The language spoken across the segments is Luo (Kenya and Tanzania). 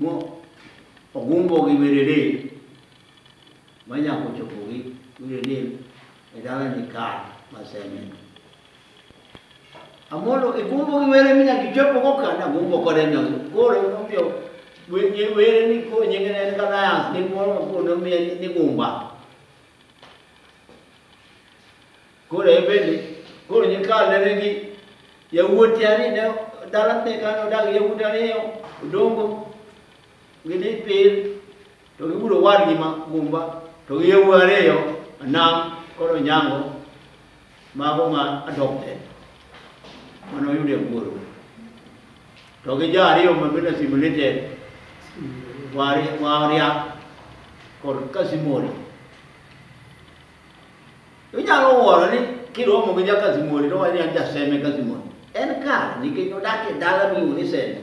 Mo ogumbo gi werene ma nyaka ochopo gi werene e dalani ka maseneno. Amolo igumbo gi were mi nyaka ichopo go ka nagumbo kode nyago. Koro emomiyo wenye were ni ko nyinge ne en ka Lions ni moro ma koro nomiye ni Gumba. Koro en bende, koro nyikawo nene gi yawuoti ariyo ne dala ne kane odak gi yawuoti ariyo odongo gidhi pir to gibiro wadgi ma gumba to gi yawuoti ariyo anam koro nyango mago ma adopted mane oyudo e wuoro to gi jo ariyo ma bende simulated waria kod kasimori Inyalo wuoro ni kiromo gi jakazimoni to wani jaseme kazimoni. En kare nikech odak e dala miluongo ni seme.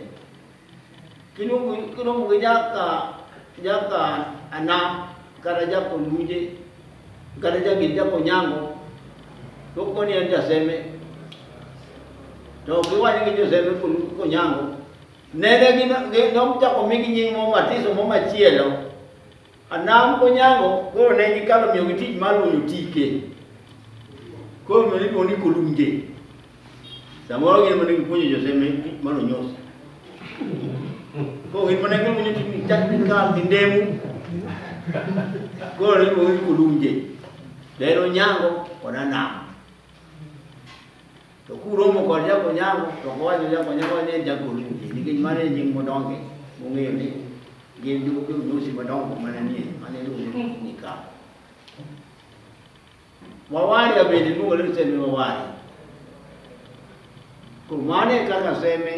Kiromo gi jaka jaka ana kata jako luje kata jagir jako nyango to koni en jaseme to kiwacho gi joseme konyango nene gi nochako migi nying' mo matiso mo machielo Anam Onyango koro ne gikalo miyo gi tich mar luonyo tike. Koro miyo iluongo ni Kolunje. Samoro gin mane gipuonjo Jose me tich mar onyos. Koro gin mane gipuonjo tich ni chak ni kal gi ndemu. Koro ne iluongo ni Kolunje. Dero Onyango kod Anam. To kuromo kod jakonyango to kowacho jakonyango ni en jagol chunje nikech mano e nying modonge mong'eyo ni gin jodosi madongo mana nie mane iluongo ni nika. Wawaria bende iluongo ni seme wawaria. Koro mano e kaka seme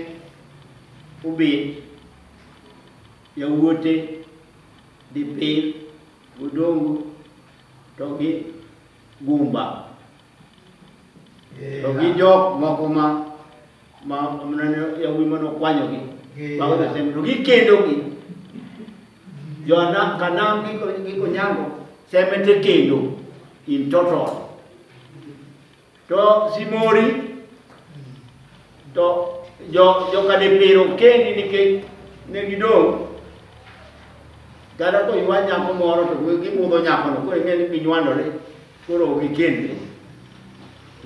obet yawuote dipil odongo to gi gumba to gi jok moko ma ma yawuoyi ma nokwanyogi mago josem to gikendogi jona kanam gi konyango sembe te kendo in total to simori to jo jokadepiro kendi nikech ne gidong' kata koywa nyako moro to gibudho nyakono koro ing'e ni ginywandore Koro ok ikendri.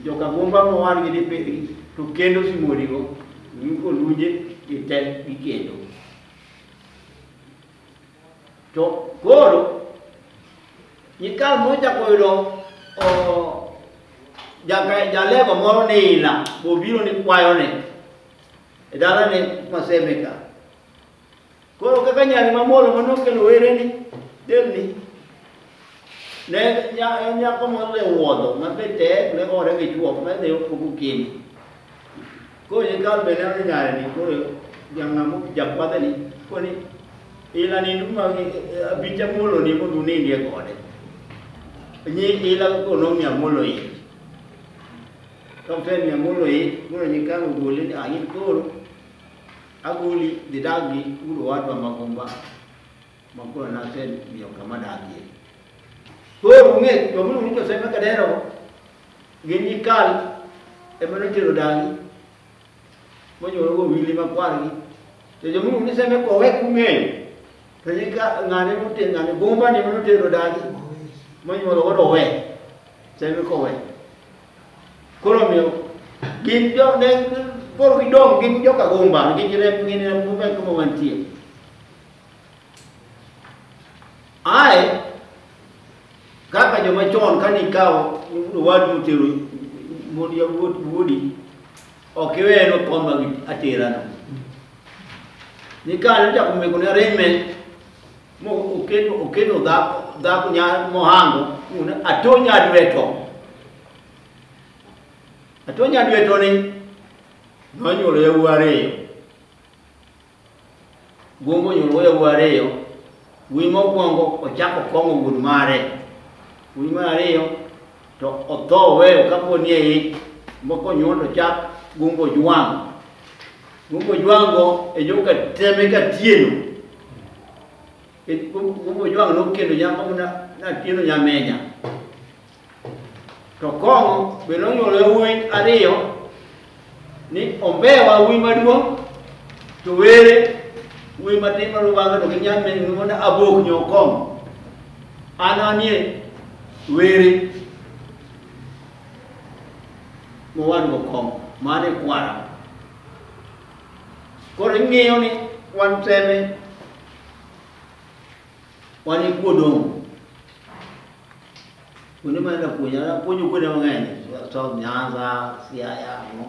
Joka Gumba mowar gi Liperi to kendo Simorigo, Nyuko Lunje gi te gikendo. To koro nyikal mochako yudo o- jaka- jalego moro ni ila bobiro ni kwayone e dalane Masemeka Koro kaka nyari mamolo ma nokelo wereni delni ne nya- en nyako moro e wuodho ma be tek ne ore gi chuok ma ne opogo kendo koro nyikal be ne ni nyare ni koro jang'amo jakwadhe ni koni ila ni nduma abicha molo ni mondo unindie kode nyi ila koro nomiya molo ich kapten miya molo ich koro nyikal ogole ni ayin koro Agoli dhi dag gi ur owadwa magomba ma koro nasemiyo kama dagie. Koro ung'e joma iluongo ni Josef Kadero gi Mikal ema notero dagi monyuologo wili makwargi. To joma iluongo ni Seme kowe kung'eyo to nyika ng'ane mote ng'ane gomba ne manotero dagi monyuologo rowe Seme kowe. Koro omiyo gin jo ne koro gidong' gin joka gumba nikech rem gin rem gumba e kuma wantie. Ae kaka joma chon kane ikawo owadu tero mond yawuot wuodi ok iwe en okoma gi aterano. Nikane ochako meko ne arrangement mokendo okendo dhako dhako nya mohango una atonya dweto atonya dweto ni nonyuolo yawuo ariyo gwongo nyuolo yawuo ariyo wuoyi mokwongo ochako kong'o wuon mare wuoyi mar ariyo to otho oweyo kapo ni e ich moko onyuol to chak gumbo jwang' gumbo jwang'go e jo ka teme ka tieno E gum- gumbo jwang' nokendo nyako na natieno nyamenya to kong'o be nonyuolo yawuoyi ariyo ni ombewa wuoyi maduong' to were wuoyi matin ma rubanga to gi nyamin mondo abok nyokom an anie were mowadwa kom mane kwara koro ing'eyo ni wan teme wan ikuodong' Kuonde ma enda puonjo, enda puonjo kuonde mang'eny, South Nyanza, Siaya, no.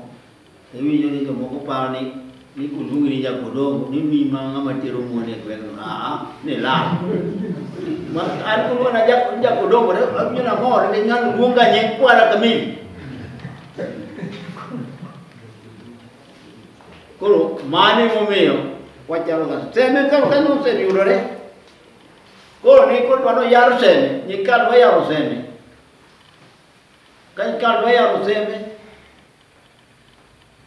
Iwinjo ni jomoko paro ni ni kuluongi ni jakodongo ni mi ma ng'ama tero muone e gweng'no aa ni lal an kuluona jakodongo awinjo namor ni ng'ano luonga nying kwara kamili koro mane momiyo wachalo ka teme koro kanyo oseyudore Koro ne koro dwaro yaro seme, nyikal dwa yaro seme. Ka nyikal dwa yaro seme,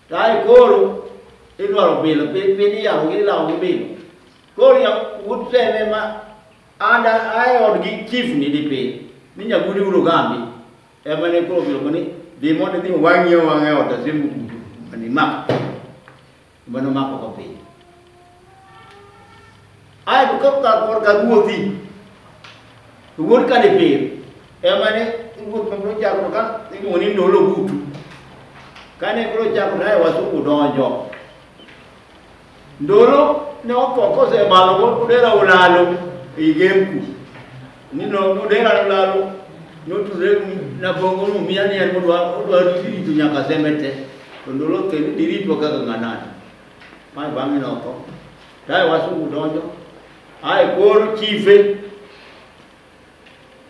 tae koro idwaro bilo, pi- piny iyaro gi ilawo gi bilo. Koro ya ut seme ma anda ae od gi chief ni di piny, ni nyagudi uro gambi. Ema ne koro bilo ni, dhi mondo idhi wang'ie wang'e ot asembuku, mani mak. Gima nomako ko piny. Ae to kok kar kor kar wuothi. Wuod ka ni pir. Ema ne wuoth ma bro chako ka iluongo ni ndolo butu. Ka ne bro chako nae wasuku donjo. Ndolo ne otho kose malo ko kudera ulalo. Igemku. ni no nodera lalo notudre na bongo no miya ni en odwa odwa rito nyaka sembe te to ndolo ke dirito kaka nganani ma bangi no to dai wasu udonjo ai kor chife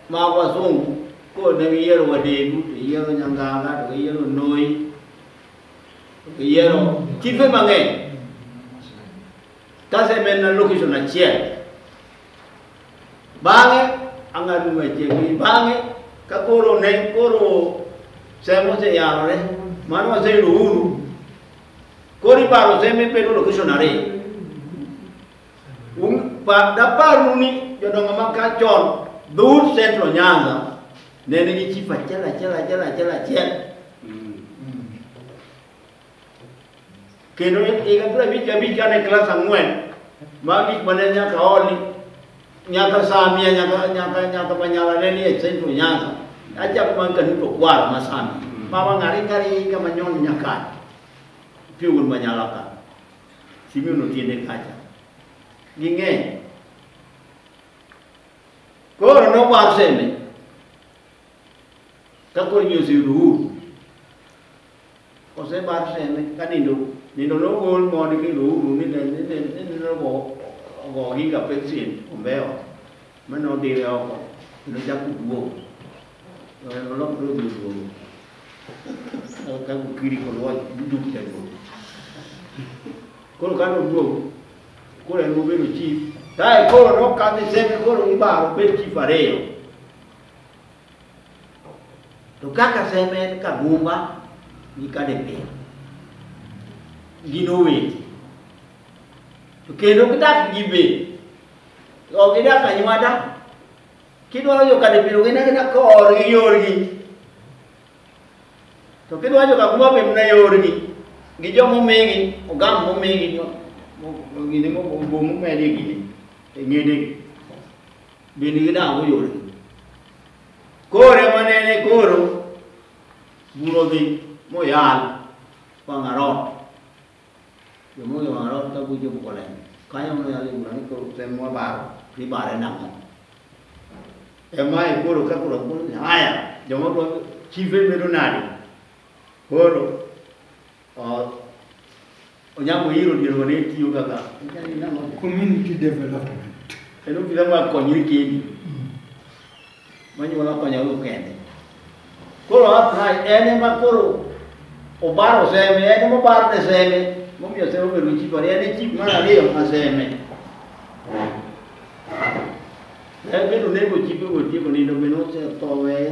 ma wasungu ko ne yero wadegu to yero nyanganga to yero noi to yero chife mang'eny kasemena location achiel Bang'e ang'ado machiegni, bang'e ka koro ne koro sem oseyarore, mano waseyudo uhuru, koro ibaro sem ibedo location ariyo. Un- pa- Daparnu ni jodongo ma ka chon dhout Central Nyanza ne nigi chief achiel achiel achiel achiel achiel kendo higa piero abich gi abich kane klas ang'wen ma gik mane nyaka oli nyaka samia nyaka nyaka nyaka manyala ne ni e centro nyanza achako man kanuto kwar ma sami mama ng'ari ng'ari kama nyon nyaka piugun manyala ka simi no tiende kacha ging'eny koro nowar seme Ka koro ji oseyudo uhuru, osebar seme ka nindo nindo nogol moni kendo uhuru ni ne- ni ne- ni nindo ogo ogo ohinga peksin ombewa ma nodire oko kendo chako duogo olok dodhi oduogo ka gokiri kod wach duk jaduogo koro ka noduogo koro en obedo chief kae koro nokadhi seme koro ibaro bed chief ariyo To kaka semed kagumba gi kadepia gin owete to kendo kidak gi be ok idak anywada kidwaro jo kadepiro gin agina korgi yorgi to kidwaro jo kagumba be mna yorgi gi jo momigi ogam momigi gini mobomo medi gini e ng'edegi Be nigi nang'o yore? Koro ema nene koro buro dhi moyal Wang'arot. Jomonge Wang'arot ka bujo Bukolem. Kanyo moyal e bura ni koro tem wabaro nibare nang'o. Emae koro ka koro kuno ni haya joma dwa chife bedo nade? Koro Onyango hiro dier wane tiyo kaka community development. Kendo kila ma konyri kendi. Manyuola konyago kende. Koro apply en ema koro obaro seme, en ema obaro ne seme. Momiyo seme obedo chief ariyo, en e chief mar ariyo ma seme. En bende onego chief otieko nindo bende osetho weye.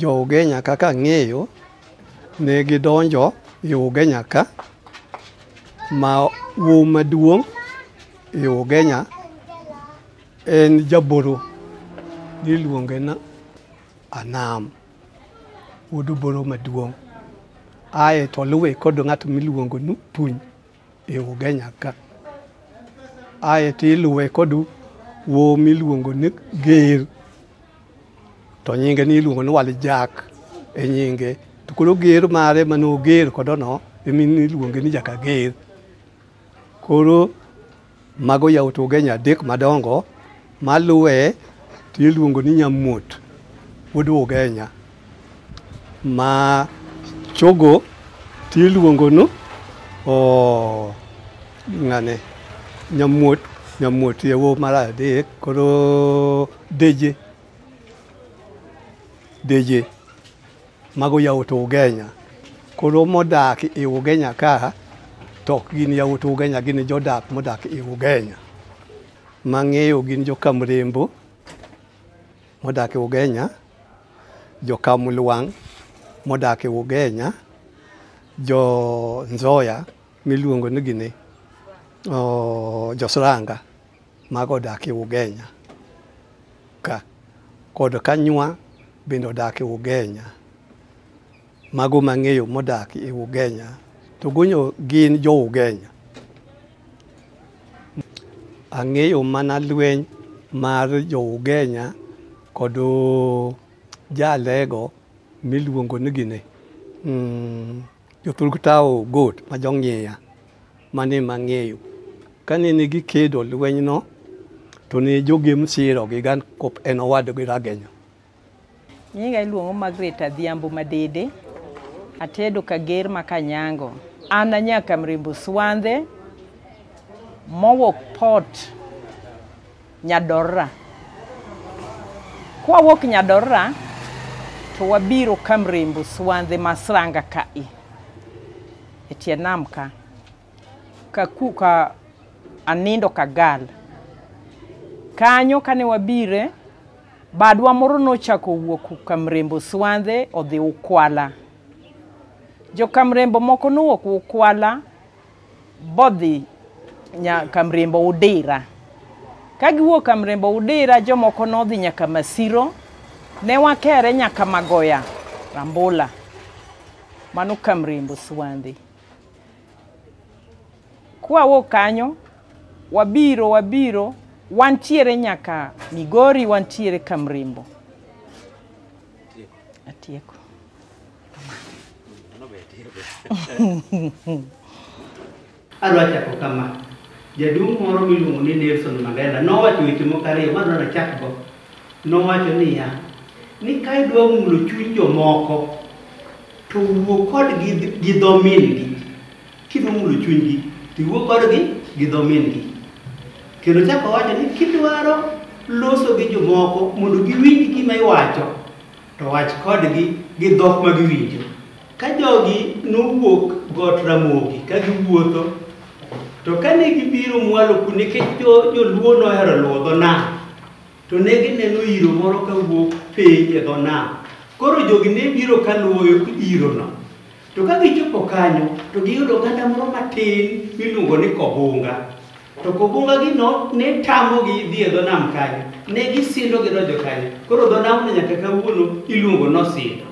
Jo-Ugenya kaka ang'eyo ne gidonjo e Ugenya ka ma wuowi maduong' e Ugenya en jaboro niluonge ni Anam, wuod oboro maduong' aeto oluwe kod ng'at miluongo ni Opuny. e Ugenya ka. Ae to iluwe kod wo miluongo ni Ger, to nyinge ni iluongo ni Walijak e nyinge. To koro Ger mare mane oger kodono, emi niluonge ni Jakager. Koro. Mago yawuot Ugenya adek madongo maluwe to iluongo ni Nyamuot wuod Ugenya ma chogo to iluongo ni oh, ng'ane Nyamuot Nyamuot yawuo mar adek koro Deje Deje Mago yawuot Ugenya. Koro modak e Ugenya ka to ok gin yawuot Ugenya, gin jodak modak e Ugenya. Mang'eyo gin jo Kamrembo modak e Ugenya, jo Kamlwang' modak e Ugenya, jo Nzoya miluongo ni gini, oh, jo Sranga Mago odak e Ugenya ka kod Kanywa bende odak e Ugenya. Mago mang'eyo modak e Ugenya to gonyo gin jo Ugenya. Ang'eyo mana lweny mar jo Ugenya kod jalego miluongo ni gine. Mm. Jothurgi tawo got ma jong'iya mane mang'eyo. Kane ne gikedo lwenyno, to ne jogem siro gi gan kop en owadgi Ragenya. Nyinga iluongo Margaret Adhiambo Madede. Atedo kager ma Kanyango. An anyaka Mrembo Swandhe mowok Port. Nyadorra. Kwawuok Nyadorra to wabiro Kamrembo Swandhe Masranga kae e tie nam ka ka ku ka anindo kagal kanyo kane wabire badwa moro nochako wuok Kamrembo Swandhe odhi Ukwala. Jo Kamrembo moko nowuok Ukwala bodhi nyaka mriembo udira ka giwuok ka mriembo udira jomoko nodhi nyaka masiro ne wakere nyaka magoya rambula mano ka mriembo swandhi kwawuok kanyo wabiro wabiro wantiere nyaka migori wantiere ka mriembo atieko Adwa chako kama. Jaduong' moro miluongo ni Nelson Mandela nowacho weche moko ariyo ma adwaro nachakgo. Nowacho niya, ni ka idwa mulo chuny jomoko, to wuo kodgi gi dho min-gi. Kidwa mulo chunygi, to iwuo kodgi gi dho min-gi. Kendo chako wacho ni kidwaro loso gi jomoko mondo giwinj gima iwacho, To wach kodgi gi dhok ma giwinjo. Ka jogi nowuok got Ramogi ka giwuotho, to kane gibiro mwalo ku nikech joluo nohero luwo dho nam, to ne gineno iro moro ka wuok piny e dho nam. Koro jogi ne biro ka luwo irono. To ka gichopo kanyo, to giyudo oganda moro matin miluongo ni Kobunga. To kobungagino ne tamogi dhi e dho nam kanyo, ne gisindo gidonjo kanyo. Koro dho namno nyaka kawuono iluongo nosindo.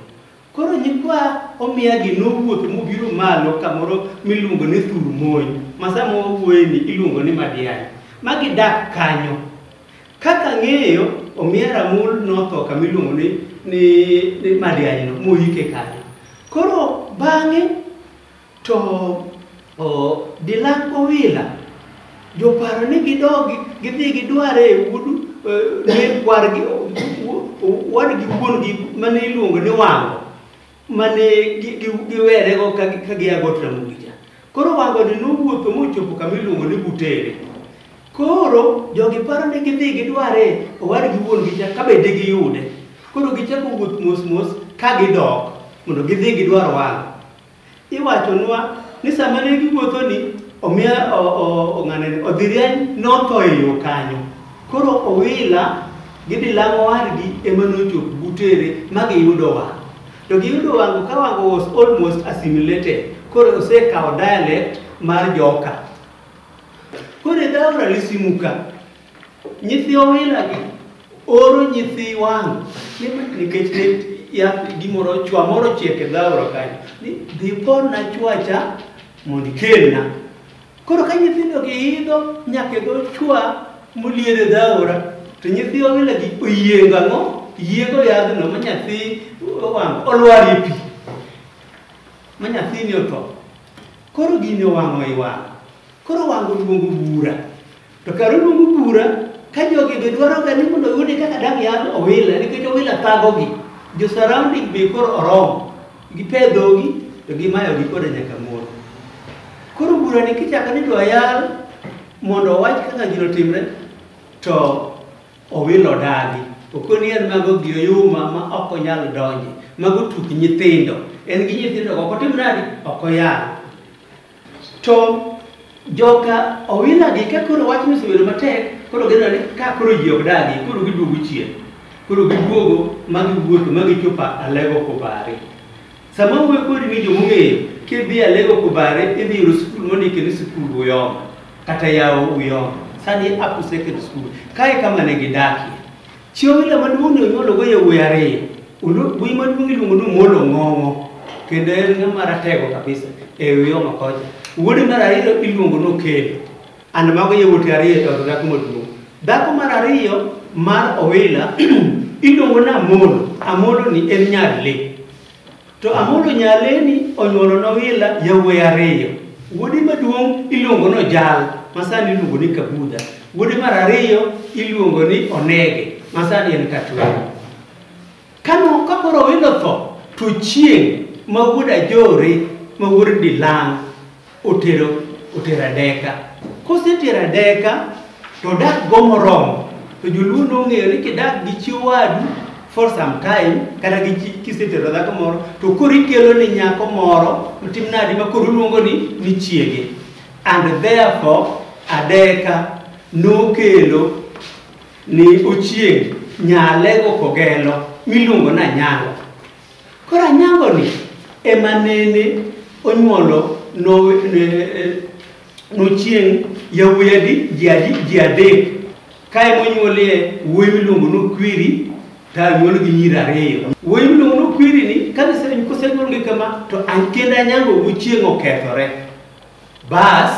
Koro nyikwa omiyagi nowuotho mobiro malo kamoro miluongo ni thur mony, ma sama wawuoyeni iluongo ni Madian, ma gidak kanyo. Kaka ng'eyo, omiya Ramul notho kama iluongo ni, ni, ni Madianyno, moyike kanyo. Koro bang'e To o, Dilang Owila joparo ni gidogi gidhi gidware e udu ne kwargi wadgi wuongi mane iluongo ni wango mane giwerego ka gia got Ramogi cha. Koro wangoni nowuotho mochopo kama iluongo ni Butere. Koro jogi paro ni gidhi gidware owadgi wuongi cha ka bende giyude. Koro gichako wuoth mos mos ka gidok mondo gidhi gidwar wango. Iwachonwa ni sama ne giwuotho ni omiya ong'anani odhi rieny notho e yo kanyo. Koro owila gi dilang'o wargi ema nochop butere ma giyudo wang'. To giyudo wang'o ka wang'o was almost assimilated. Koro osekawo dialect mar joka. Koro edhaora lisimuka Nyithi Owila gi oro nyithi wang' ni ma- nikech ne ya gimoro chwa moro chiek e dhaura kanyo ni dhi porna chwacha mondo ikelna. Koro ka nyithindo gi idho nyaka e dho chwa molier e dhaura to nyithi Owila gi oyiengo ang'o? Yiengo yadhno ma nyathi wang' olwar e pi ma nyathini otho. Koro gini owang'o i wang'. Koro wang' oluongo bura. To kar uluongo bura ka jogi be dwaroga ni mondo oyude kaka dang' yadh owila nikech owila thagogi jo surrounding be koro oromo gipedhogi to gimayogi koda nyaka mor koro burani kichako ni dwa yal mondo owach kaka gino timre to owilo dagi okoni en mago gi oyuma ma ok onyal donje mago tuk nyithindo en gi nyithindo ok otim nadi ok oyal To joka Owila gi ka koro wachno osebedo matek, koro gineno ni ka koro ji ok dagi, koro giduogo chien. Koro giduogo ma giwuotho ma gichopo Alego Kubare. Sama wuoyo kodi ni joma ong'eyo, kidhi Alego Kubare idhi yudo skul mondike ni sikul Uyoma kata yawo Uyoma. Sani e Upper Secondary School. Kae kama ne gidakie. Chi Omila maduong' ne onyuologo yawuoyi ariyo. Wuoyi maduong' iluongo ni Omolo Ng'ong'o kendo en ng'ama ratego kabisa e wi Homa kocha. Wuode mar ariyo iluongo ni Okelo. And mago yawuote ariyo to dhako maduong'. Dhako mar ariyo mar Owila iluongo ni Amolo. Amoloni en nyar le. To Amolo Nyaleni onyuolo Nowila yawuoyi ariyo. Wuode maduong' iluongo ni Ojal, ma sani iluongo ni Kabudha. Wuode mar ariyo iluongo ni Onege, ma sani en Katwero. Kano ka koro Owino otho, to chieng' ma wuod Ajore ma wuod Dilang' otero otero adeka kosetero adeka to odak go moromo to joluo nong'eyo ni kidak gi chi wadu for some time kata gi chi- kisetero dhako moro to koro ikelo ni nyako moro otim nadi ma koro oluongo ni ni chiege and therefore adeka nokelo ni ochieng' nyalego kogelo miluongo na nyango Koro anyangoni ema nene onyuolo nochieng' yawuoyi adi ji adi ji adek ka ema onyuolie wuoyi miluongo nokwiri to anyuol gi nyiri ariyo wuoyi miluongo nokwiri ni kosenyuolgi kama to kendo anyango wuchieng' okethore bas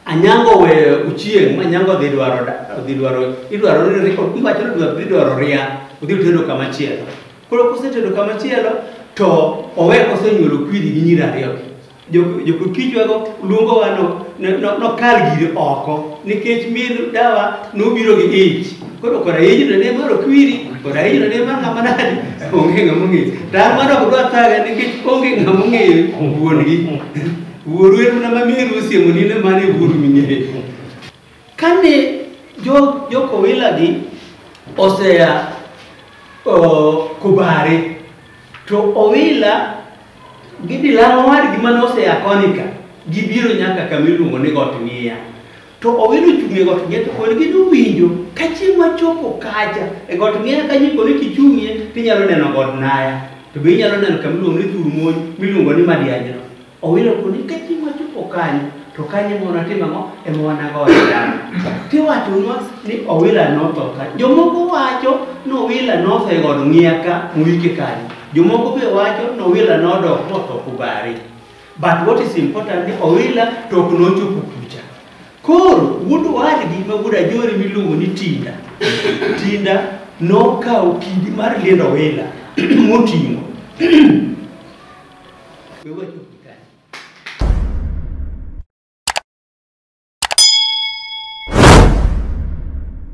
Anyango we uchieng ma nyango dhi dwaro dhi dwaro idwaro ni riko iwacho ni dwaro dwaro ria udhi tedo kama chielo koro kose tedo kama chielo to owe kose nyulo kwiri gi nyira ariyo jo ko kijwa go lungo wa no no no kal gi oko nikech mir dawa no biro gi ich koro kora iji no ne maro kwiri kora iji no ne maro kama nadi onge ngamungi dar maro kudwa taga nikech onge ngamungi wuon gi Wuoru en mana mamiyo osiemo ni ne mane wuoru ming'eyo. Kane jo jokowilagi osea o, kubare to owila gidhi laro wadgi mane osea konika gibiro nyaka kama iluongo ni got ng'iya To owino ochung' e got ng'eto koni gi nowinjo ka chieng' wachopo kacha e got ng'eya kanyo koni kichung'ie tinyalo neno god naya to be inyalo neno kama iluongo ni thur mony miluongo ni madianyno owino koni ka chieng' wachopo kanyo to kanyo ema wanatimo ang'o ema wanagoye dala tiwachonwa ni owila notho ka jomoko wacho ni owila notho e god ng'eya ka moike kanyo jomoko be wacho ni owila nodok motho kubari But what is important ni Owila to ok nochopo kucha. Koro wuod owadgi ma wuod Ajori miluongo ni Tinda. Tinda nokawo kidi mar liendo Owila moting'o. We wacho